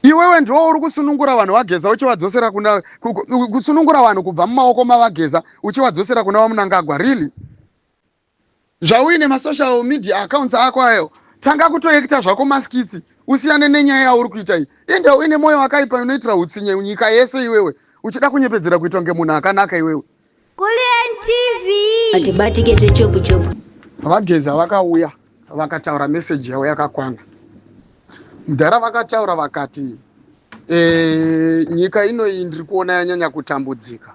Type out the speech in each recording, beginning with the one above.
Iwewe ndiwo uri kusunungura vanhu vageza uchivadzosera kuna kusunungura vanhu kubva mumaoko mavageza uchivadzosera kuna vamunangagwa really zvauine masocial media accounts ako ayo tanga kutoekita zvako maskitsi usiyane nenyaya yauri kuita iyi ende uine mwoyo wakaipa unoitira utsinye nyika yese iwewe uchida kunyepedzera kuitwa ngemunhu akanaka iwewe Kulliant TV. Hatibatike zvechopu chopu. Vageza vakauya vakataura message yavo yakakwana. Mudhara vakataura vakati e, nyika inoyi ndiri kuona yanyanya kutambudzika.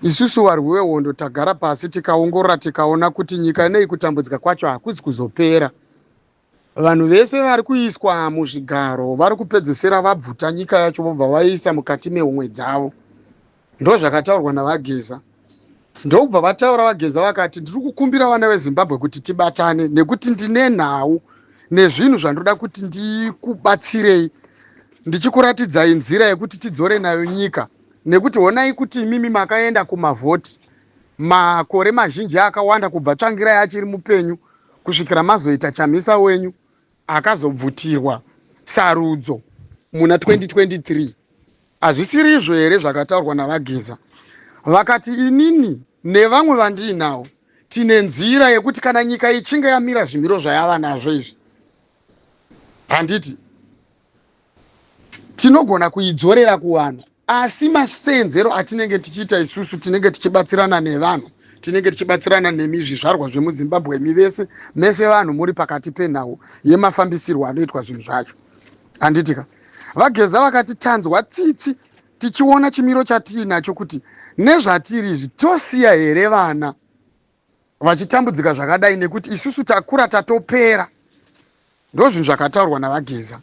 Isusu varwi vehondo tagara pasi tikaongorora tikaona kuti nyika inoyi kutambudzika kwacho hakuzi kuzopera. Vanhu vese vari kuiswa muzvigaro vari kupedzesera vabvuta nyika yacho vobva vaiisa mukati mehomwe dzavo. Ndozvakataurwa naVaGeza. Ndokubva vataura VaGeza vakati, ndiri kukumbira vana veZimbabwe kuti tibatane nekuti ndine nhau nezvinhu zvandoda kuti ndikubatsirei ndichikuratidzai nzira yekuti tidzore nayo nyika nekuti honai kuti imimi makaenda kumavhoti makore mazhinji akawanda kubva tsvangirai achiri mupenyu kusvikira mazoita chamisa wenyu akazobvutirwa sarudzo muna 2023 hazvisiri izvo here zvakataurwa navageza vakati inini nevamwe vandiinawo tine nzira yekuti kana nyika ichinge yamira zvimiro zvayava nazvo izvi handiti tinogona kuidzorera kuvanhu asi masenzero atinenge tichiita isusu tinenge tichibatsirana nevanhu tinenge tichibatsirana nemi zvizvarwa zvemuzimbabwe mi vese mese vanhu muri pakati penhau yemafambisirwo anoitwa zvinhu zvacho handitika vageza vakati tanzwa tsitsi tichiona chimiro chatiinacho kuti nezvatiri izvi tosiya here vana vachitambudzika zvakadai nekuti isusu takura tatopera ndozvinhu zvakataurwa navageza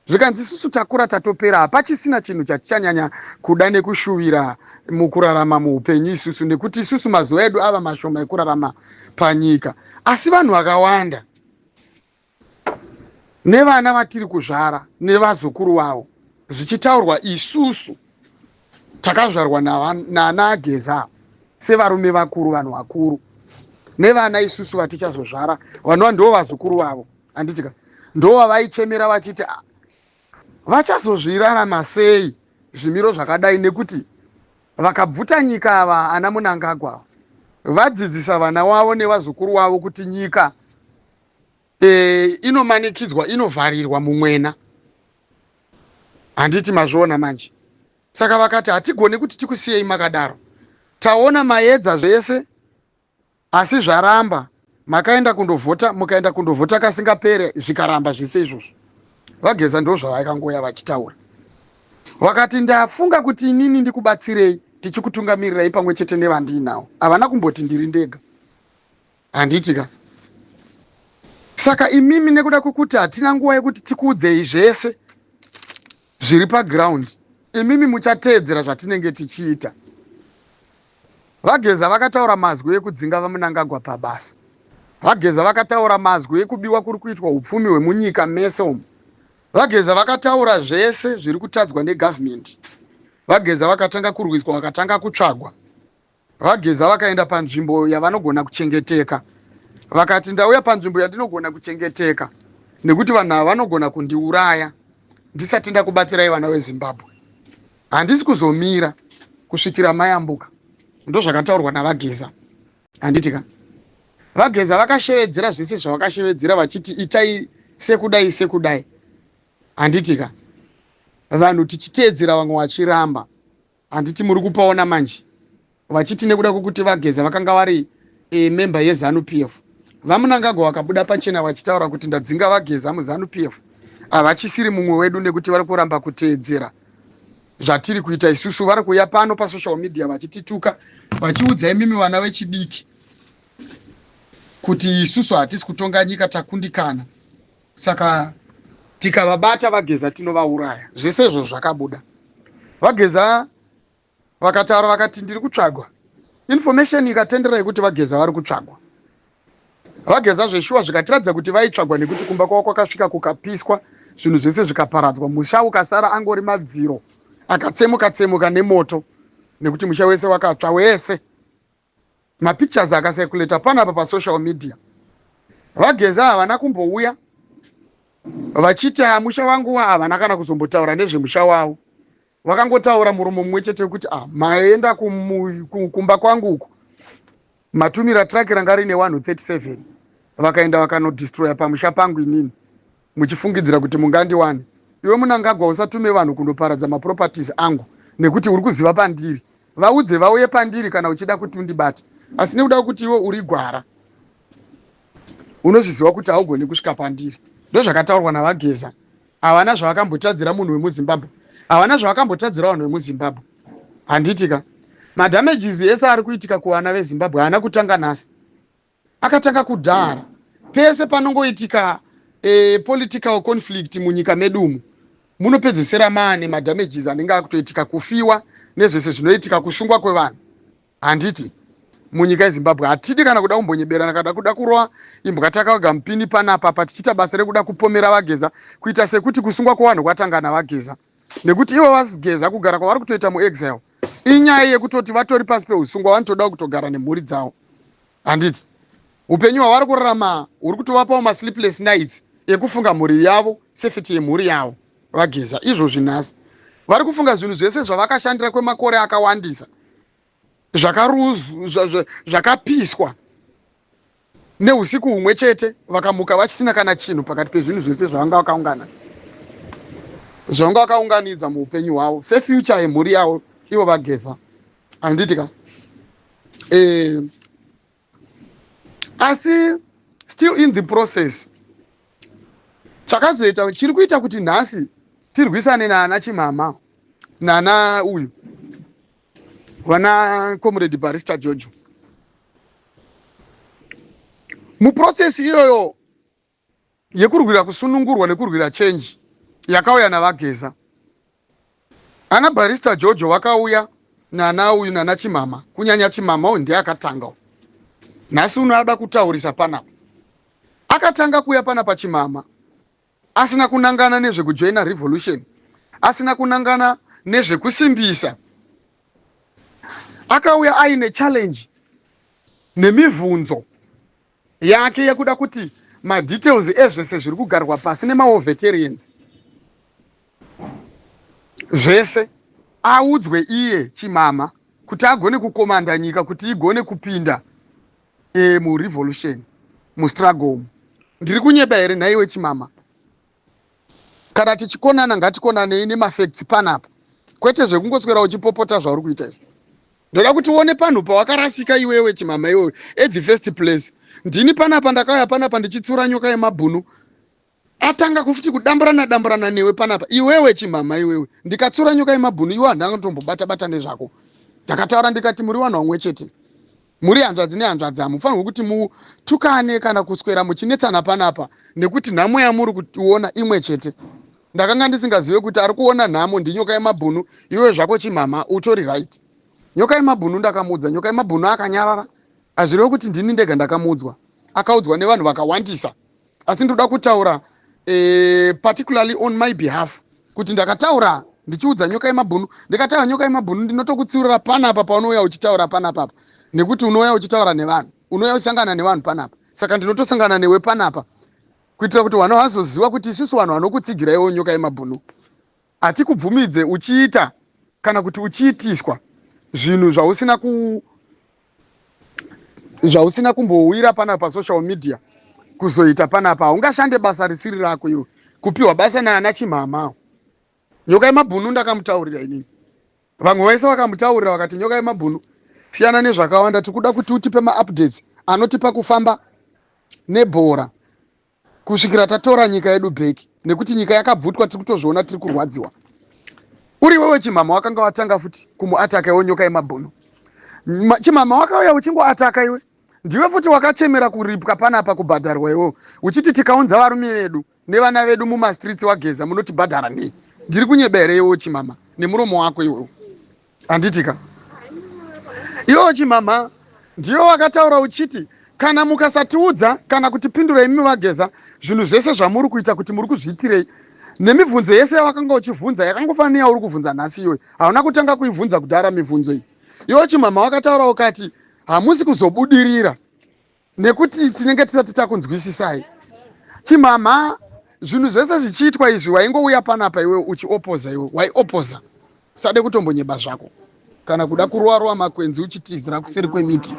zvikanzi isusu takura tatopera hapachisina chinhu chatichanyanya kuda nekushuvira mukurarama muupenyu isusu nekuti isusu mazuva edu ava mashoma ekurarama panyika asi vanhu vakawanda nevana vatiri kuzvara nevazukuru vavo zvichitaurwa isusu takazvarwa nana ageza sevarume vakuru vanhu vakuru nevana isusu vatichazozvara vanova ndo vazukuru vavo handitika ndovavaichemera vachiti ah, vachazozvirarama sei zvimiro zvakadai nekuti vakabvuta nyika ava ana munangagwa vadzidzisa vana wavo nevazukuru wavo kuti nyika e, inomanikidzwa inovharirwa mumwena handiti mazviona manje saka vakati hatigone kuti tikusiyei makadaro taona maedza zvese asi zvaramba makaenda kundovhota mukaenda kundovhota kasingapere zvikaramba zvese izvozvo vageza ndo zvavakangoya vachitaura vakati ndafunga kuti inini ndikubatsirei tichikutungamirirai pamwe chete nevandiinawo havana kumboti ndiri ndega handiti ka saka imimi nekuda kwekuti hatina nguva yekuti tikuudzei zvese zviri paground imimi muchateedzera zvatinenge tichiita vageza vakataura mazwi ekudzinga vamunangagwa pabasa vageza vakataura mazwi ekubiwa kuri kuitwa upfumi hwemunyika mese umu vageza vakataura zvese zviri kutadzwa negovernment vageza vakatanga kurwiswa vakatanga kutsvagwa VaGeza vakaenda panzvimbo yavanogona kuchengeteka. Vakati, Ndauya panzvimbo yandinogona kuchengeteka nekuti vanhu ava vanogona kundiuraya ndisati ndakubatsirai vana vezimbabwe handisi kuzomira kusvikira mayambuka ndozvakataurwa navageza handiti ka vageza vakashevedzera zvese zvavakashevedzera vachiti itai sekudai sekudai handiti ka vanhu tichiteedzera vamwe vachiramba Handiti muri kupaona manje vachiti nekuda kwekuti vageza vakanga vari e, member yezanu p f vamunangagwa vakabuda pachena vachitaura kuti ndadzinga vageza muzanu p f havachisiri mumwe wedu nekuti vari kuramba kuteedzera zvatiri kuita isusu vari kuuya pano pasocial media vachitituka vachiudza imimi vana vechidiki kuti isusu hatisi kutonga nyika takundikana saka tikavabata vageza tinovauraya zvese izvo zvakabuda vageza vakataura vakati ndiri kutsvagwa information ikatendera yekuti vageza vari kutsvagwa vageza zveshuwa zvikatiratidza kuti vaitsvagwa nekuti kumba kwavo kwakasvika kukapiswa zvinhu zvese zvikaparadzwa musha ukasara angori madziro akatsemuka tsemuka nemoto nekuti musha wese wakatsva wese mapictures akaseculator panapa pasocial media vageza havana kumbouya vachiti ah, musha wangu wa havana kana kuzombotaura nezvemusha wavo vakangotaura muromo mumwe chete wekuti ah, maenda kumba kwangu uku matumira traki ranga rine 137 vakaenda vakanodestroya pamusha pangu inini muchifungidzira kuti mungandiwane iwe munangagwa usatume vanhu kundoparadza maproperties angu nekuti uri kuziva pandiri vaudze vauye pandiri kana uchida kuti undibate asi nekuda kwekuti iwe uri gwara unozviziva kuti haugoni kusvika pandiri ndozvakataurwa navageza havana zvavakambotadzira munhu wemuzimbabwe havana zvavakambotadzira vanhu vemuzimbabwe handitika madamages ese ari kuitika kuvana vezimbabwe haana kutanga nhasi Akatanga kudhara. Pese panongoitika a political conflict munyika medu umu munopedzesera maane madamages anenge akutoitika kufiwa nezvese zvinoitika kusungwa kwevanhu handiti munyika yezimbabwe hatidi kana kuda kumbonyeberana kada kuda kurova imbwa takaoga mupini panapa pa tichiita basa rekuda kupomera vageza kuita sekuti kusungwa kwevanhu kwatanga navageza nekuti ivo vageza kugara kwavari kutoita muexile inyaya yekutoti vatori pasi peusungwa vanotodawo kutogara nemhuri dzavo handiti upenyu hwavari kurarama huri kutovapawo masleepless nights ekufunga mhuri yavo safety yemhuri yavo vageza izvozvi nhasi vari kufunga zvinhu zvese zvavakashandira kwemakore akawandisa zvakapiswa neusiku humwe chete vakamuka vachisina kana chinhu pakati pezvinhu zvese zvavanga vakaungana zvavanga vakaunganidza muupenyu hwavo sefuture yemhuri yavo ivo vageza handiti ka eh, asi still in the process chakazoita chiri kuita kuti nhasi tirwisane naana chimama nana uyu vana comrade barista jojo muprocess iyoyo yekurwira kusunungurwa nekurwira change yakauya naVaGeza. Ana Barrister Jojo vakauya nana uyu nana Chimhama, kunyanya Chimhama uyu ndiye akatanga uyu. Nhasi uno ada kutaurisa panapa. Akatanga kuuya panapa Chimhama asina kunangana nezvekujoina revolution, asina kunangana nezvekusimbisa. Akauya aine challenge nemivhunzo. yake yekuda kuti madetails ezvese zviri kugarwa pasi nemawo veterans zvese audzwe iye chimama kuti agone kukomanda nyika kuti igone kupinda e, murevolution mustruggle umu ndiri kunyeba here nhaiwe chimama kana tichikonana ngatikonanei nemafacts panapa kwete zvekungoswera uchipopota zvauri kuita izvo ndoda kuti uone panhu pawakarasika iwewe chimama iwewe at the first place ndini panapa ndakauya panapa ndichitsura nyoka yemabhunu atanga kufuti kudamburana damburana newe panapa iwewe chimama iwewe ndikatsura nyoka yemabhunu iwe handanga tombobata bata nezvako ndakataura ndikati muri vanhu vamwe chete Muri hanzvadzi nehanzvadzi hamufanirwe kuti mutukane kana kuswera muchinetsana panapa nekuti nhamo yamuri kuona imwe chete. Ndakanga ndisingazive kuti ari kuona nhamo ndinyoka yemabhunu iwe zvako chimhamha utori right. Nyoka yemabhunu ndakamuudza nyoka yemabhunu akanyarara hazvireve kuti ndini ndega ndakamuudzwa akaudzwa nevanhu vakawandisa. asi ndinoda kutaura eh, particularly on my behalf kuti ndakataura ndichiudza nyoka yemabhunu ndikataura nyoka yemabhunu ndinotokutsiurira panapa paunouya uchitaura panapapa nekuti unouya uchitaura nevanhu unouya uchisangana nevanhu panapa saka ndinotosangana newe panapa kuitira kuti vanhu vazoziva kuti isusu vanhu vanokutsigira iwo nyoka yemabhunu Hatikubvumidze uchiita kana kuti uchiitiswa zvinhu zvausina ku zvausina kumbouira panapa pasocial media kuzoita panapa haungashande basa risiri rako iwe kupiwa basa naana chimhamawo nyoka yemabhunu ndakamutaurira inini vamwe vaise vakamutaurira vakati nyoka yemabhunu siyana nezvakawanda tikuda kuti utipe maupdates anotipa kufamba nebhora kusvikira tatora nyika yedu back nekuti nyika yakabvutwa tiri kutozviona tiri kurwadziwa uri wewe chimama wakanga watanga futi kumuataka iwe nyoka yemabhunu chimama wakauya uchingoataka iwe ndiwe futi wakachemera kuripwa panapa kubhadharwa iwe uchiti tikaunza varume vedu nevana vedu mumastreets wageza munotibhadhara nei ndiri kunyebera iwe chimama nemuromo wako iwewo handitika iwo chimhamha ndiyo wakataura uchiti kana mukasatiudza kana kutipindura imi vageza zvinhu zvese zvamuri kuita kuti muri kuzviitirei nemibvunzo yese yawakanga uchivhunza yakangofanira yauri kuvhunza nhasi iyoyi hauna kutanga kuivhunza kudhara mibvunzo iyi iwo chimhamha wakataura ukati hamusi kuzobudirira nekuti tinenge tisati takunzwisisai chimhamha zvinhu zvese zvichiitwa izvi waingouya panapa iwe uchiopoza iwe waiopoza usade kutombonyeba zvako kana kuda kurowa rowa makwenzi uchitizira kuseri kwemiti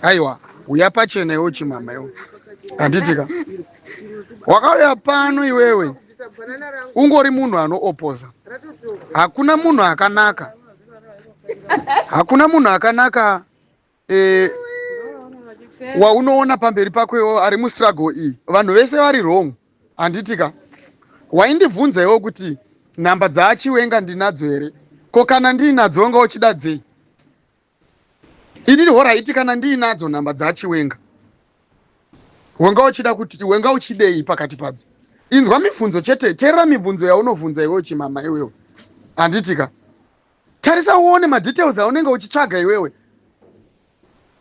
aiwa uya pachena iwe chimhamha iwe handitika wakauya pano iwewe ungori munhu anoopoza hakuna munhu akanaka hakuna munhu akanaka eh, waunoona pamberi pako iwo ari mustruggle iyi vanhu vese vari wrong handitika waindibvunza iwo kuti nhamba dzaachiwenga ndinadzo here ko kana ndiinadzo wanga uchida dzei inini horaiti kana ndiinadzo nhamba dzaachiwenga wanga uchida kuti wanga uchidei pakati padzo inzwa mibvunzo chete terera mibvunzo yaunobvunza iwe uchimama iwewe handitika tarisa uone madetails aunenge uchitsvaga iwewe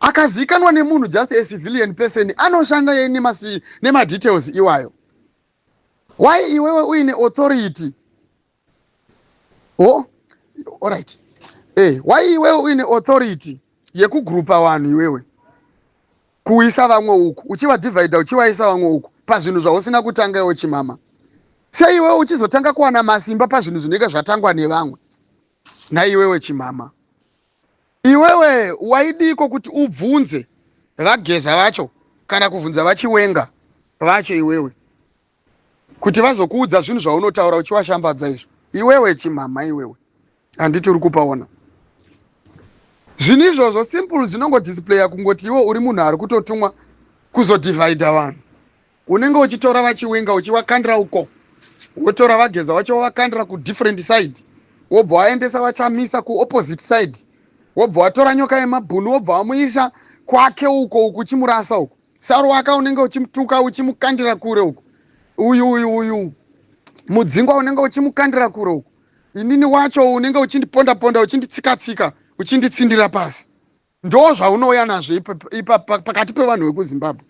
akazikanwa nemunhu just a civilian person anoshanda yei nemadetails iwayo why iwewe uine authority o oh, allright e eh, why iwewe uine authority yekugrupa vanhu iwewe kuisa vamwe uku uchivadhivhaidha uchivaisa vamwe uku pazvinhu zvausina kutanga iwo chimama sei iwewe uchizotanga kuwana masimba pazvinhu zvinenge zvatangwa nevamwe naiwewe chimama iwewe waidiiko kuti ubvunze vageza vacho kana kubvunza vachiwenga vacho iwewe kuti vazokuudza zvinhu zvaunotaura uchiwashambadza izvo iwewe chimhamha iwewe handiti uri kupaona zvinhu izvozvo simple zvinongodisplaya kungoti iwe uri munhu ari kutotumwa kuzodivhaidha vanhu unenge uchitora vachiwinga uchiwakandira uko wotora vageza wacho wovakandira kudifferent side wobva waendesa vachamisa kuopposite side wobva watora nyoka yemabhunu wobva wamuisa kwake uko uku uchimurasa uko saruwaka unenge uchimutuka uchimukandira kure uku uyu uyu uyu mudzingwa unenge uchimukandira kure uku inini wacho unenge uchindiponda ponda uchinditsika tsika uchinditsindira pasi ndo zvaunouya nazvo ipa pakati pevanhu vekuzimbabwe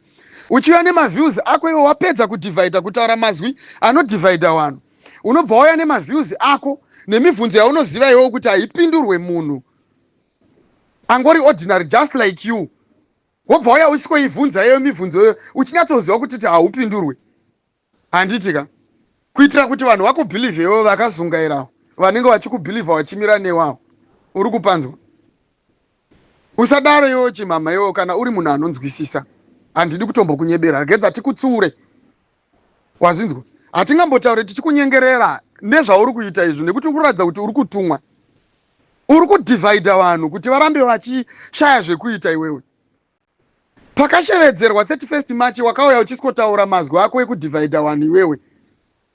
uchiuya nemaviews ako iwe wapedza kudivhaidha kutaura mazwi anodivhaidha vanhu unobva wauya nemaviews ako nemibvunzo yaunoziva iwewo kuti haipindurwe munhu angori ordinary just like you wobva waya usikoivhunza yeyo mibvunzo yoyo uchinyatsoziva kuti ti haupindurwe handiti ka kuitira kuti vanhu vakubhilivhewo vakazungairawo vanenge vachikubhilivha vachimira newawo uri kupanzwa usadaro iwewo chimhamha iwewo kana uri munhu anonzwisisa handidi kutombokunyebera regedza tikutsiure Wazvinzwa? Hatingambotaure tichikunyengerera nezvauri kuita izvi nekuti uri kuratidza kuti uri kutumwa. Uri kudivhaidha vanhu kuti varambe vachishaya zvekuita iwewe. Pakashevedzerwa 31st March wakauya uchisikotaura mazwi ako ekudivhaidha vanhu iwewe.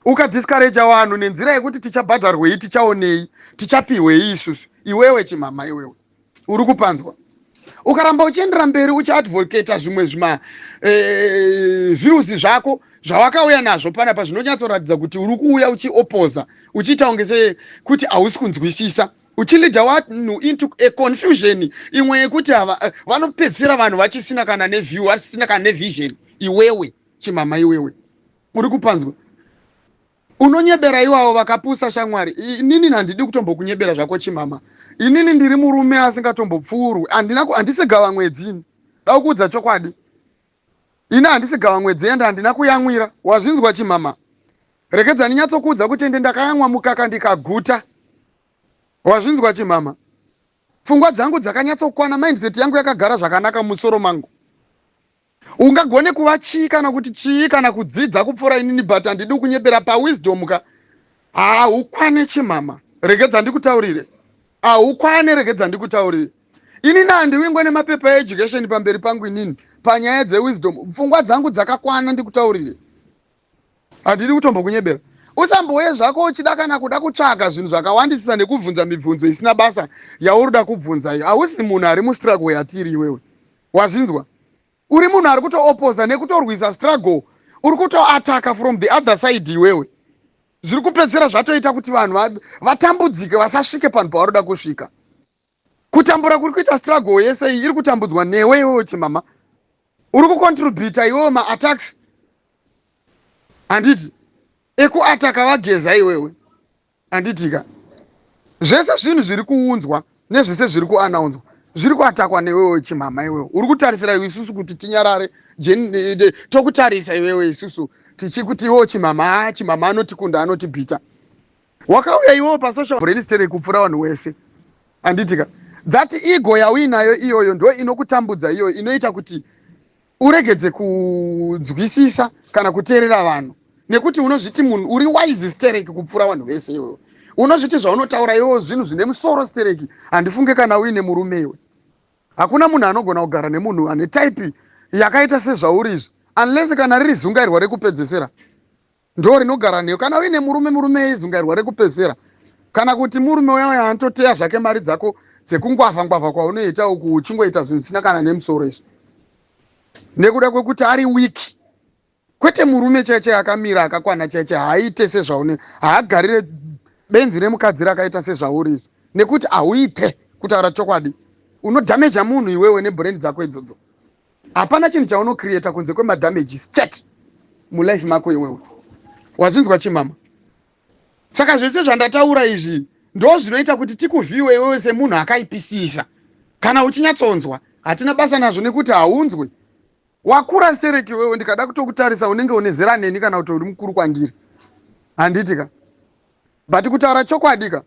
Ukadiscourager vanhu nenzira yekuti tichabhadharwei, tichaonei, tichapihwei isusu. Iwewe chimhamha iwewe. uri kupanzwa ukaramba uchiendera mberi uchiadvocata zvimwe zvima eh, views zvako zvawakauya nazvo panapa zvinonyatsoratidza kuti uri kuuya uchiopoza uchiita kunge sekuti hausi kunzwisisa uchilida vanhu into a confusion imwe yekuti eh, vanopedzisira vanhu vachisina kana neview vasisina kana nevision iwewe chimama iwewe uri kupanzwa Unonyebera iwawo vakapusa shamwari. Inini handidi kutombokunyebera zvako chimama. Inini ndiri murume asingatombopfuurwi. Handina handisi gava mwedzi ini. Dakuudza chokwadi. Ini handisi gava mwedzi ende handina kuyamwira. Wazvinzwa chimama? Rekedza ndinyatsokuudza kuti ende ndakayamwa mukaka ndikaguta. Wazvinzwa chimama? Pfungwa dzangu dzakanyatsokwana, mindset yangu yakagara zvakanaka musoro mangu. Ungagone kuva chii kana kuti chii kana kudzidza kupfuura inini but handidi kunyepera pawisdom ka haukwane chimama regedza ndikutaurire haukwane regedza ndikutaurire inini handiwingwe nemapepa eeducation pamberi pangu inini panyaya dzewisdom pfungwa dzangu dzakakwana ndikutaurire Handidi kutombokunyebera. Usambouye zvako uchida kana kuda kutsvaga zvinhu zvakawandisisa nekubvunza mibvunzo isina basa yauroda kubvunza iyo. Hausi munhu ari mustruggle yatiri iwewe. Wazvinzwa? Uri munhu ari kutoopoza nekutorwisa struggle. Uri kutoataka from the other side iwewe. Zviri kupedzisira zvatoita kuti vanhu vatambudzike vasasvike panhu pavaroda kusvika. kutambura kuri kuita struggle yese iyi iri kutambudzwa newe iwewo chimama uri kucontributa iwewo maattacks handiti ekuataka vageza iwewe handitika zvese zvinhu zviri kuunzwa nezvese zviri kuanaunzwa zviri kuatakwa newewe chimhama iwewe uri kutarisira iwe isusu kuti tinyarare tokutarisa iwewe isusu tichikuti iwewo chimhama chimhama anotikunda anotibhita wakauya iwewo pasocial relistere kupfura vanhu wese handitika that ego yauinayo iyoyo ndo inokutambudza iyoyo inoita kuti uregedze kunzwisisa kana kuteerera vanhu nekuti unozviti munhu uri wise sterek kupfura vanhu vese iwewe unozviti zvaunotaura iwewo zvinhu zvine musoro sterek handifunge kana uine murume iwe hakuna munhu anogona kugara nemunhu ane type yakaita sezvauri izvi unless kana riri zungairwa rekupedzesera ndoo rinogara newe kana uine murume murume eizungairwa rekupedzisira kana kuti murume uya uya anototeya zvake mari dzako dzekungwavha ngwavha kwaunoita uku uchingoita zvinhu zvisina kana nemusoro izvi nekuda kwekuti ari wiki kwete murume chaiche akamira akakwana chaiche haaite sezvaune haagarire benzi remukadzi rakaita sezvauri izvi nekuti hauite kutaura chokwadi unodhameja munhu iwewe nebhurendi dzako idzodzo hapana chinhu chauno creator kunze kwema damages chat mulife mako iwewe wazvinzwa chi mama saka zvese zvandataura izvi ndo zvinoita kuti tikuvhiwe iwewe semunhu akaipisisa kana uchinyatsonzwa hatina basa nazvo nekuti haunzwe wakura stereki iwewe ndikada kutokutarisa unenge une zera neni kana kuti uri mukuru kwandiri handiti ka but kutaura chokwadi ka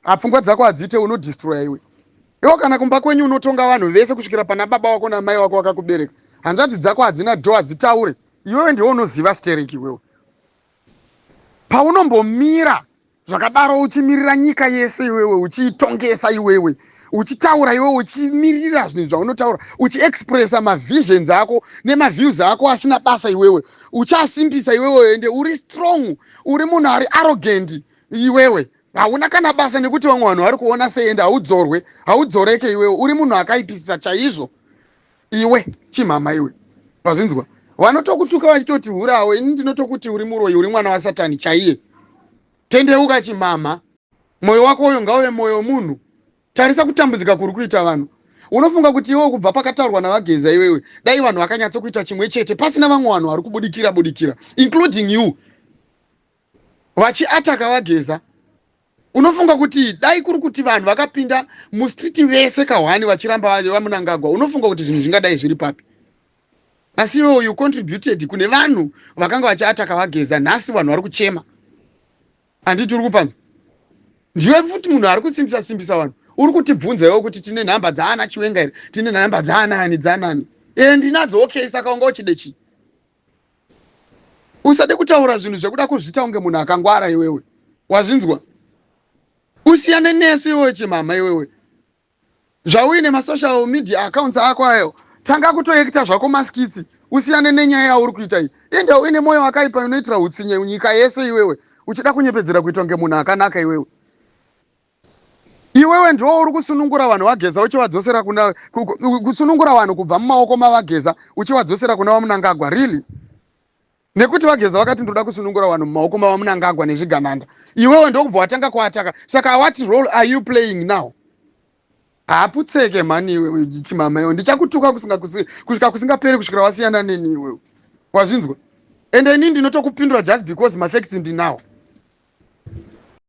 Ah, pfungwa dzako hadziite unodistroya iwe. Iwo kana kumba kwenyu unotonga vanhu vese kusvikira pana baba wako namai wako wakakubereka. Hanzvadzi dzako hadzina do hadzitaure. Iwewe ndiwe unoziva stereki iwewe. Paunombomira zvakadaro uchimirira nyika yese iwewe uchiitongesa iwewe uchitaura iwewe uchimirira zvinhu zvaunotaura uchiexpressa mavisions ako nemaviews ako asina basa iwewe uchasimbisa iwewe ende uri strong uri munhu ari arrogant iwewe hauna kana basa nekuti vamwe vanhu vari kuona sei ende haudzorwe haudzoreke iwewe uri munhu akaipisisa chaizvo iwe chimhama iwe vazvinzwa vanotokutuka vachitoti hurawo ini ndinotokuti uri muroyi uri mwana wasatani chaiye tendeuka chimhama mwoyo wako uyo ngauve mwoyo munhu tarisa kutambudzika kuri kuita vanhu unofunga kuti iwe kubva pakataurwa navageza iwewe dai vanhu vakanyatsokuita chimwe chete pasina vamwe vanhu vari kubudikira budikira including you vachiataka vageza unofunga kuti dai kuri kuti vanhu vakapinda mustreet vese kahwani vachiramba vamunangagwa unofunga kuti zvinhu zvingadai zviri papi asi iwe uyu contributed kune vanhu vakanga vachiataka vageza nhasi vanhu vari kuchema handiti uri kupanzwa ndiwe futi munhu ari kusimbisa simbisa vanhu uri kutibvunza iwo kuti tine nhamba dzaana chiwenga here tine nhamba dzaanani dzaanani e ndinadzo okay saka unga uchide chii usade kutaura zvinhu zvekuda kuzvita unge munhu akangwara iwewe wazvinzwa usiyane nesu iwewe chimama iwewe zvauine masocial media accounts ako ayo tanga kutoekita zvako maskitsi usiyane nenyaya yauri kuita iyi ende uine mwoyo wakaipa unoitira utsinye nyika yese iwewe uchida kunyepedzera kuitwa ngemunhu akanaka iwewe Iwewe ndiwo uri kusunungura vanhu vaGeza uchivadzosera kuna kusunungura vanhu kubva mumaoko mavaGeza uchivadzosera kuna vaMunangagwa really? Nekuti vaGeza vakati ndoda kusunungura vanhu mumaoko mavaMunangagwa nezvigananda. Iwewe ndokubva watanga kuataka. Saka what role are you playing now? Haputseke mhani iwewe chimama iwe ndichakutuka kusvika kusinga, kusinga peri kusvikira wasiyana neni iwewe. Wazvinzwa? And ini ndinotokupindura just because mafacts ndinawo.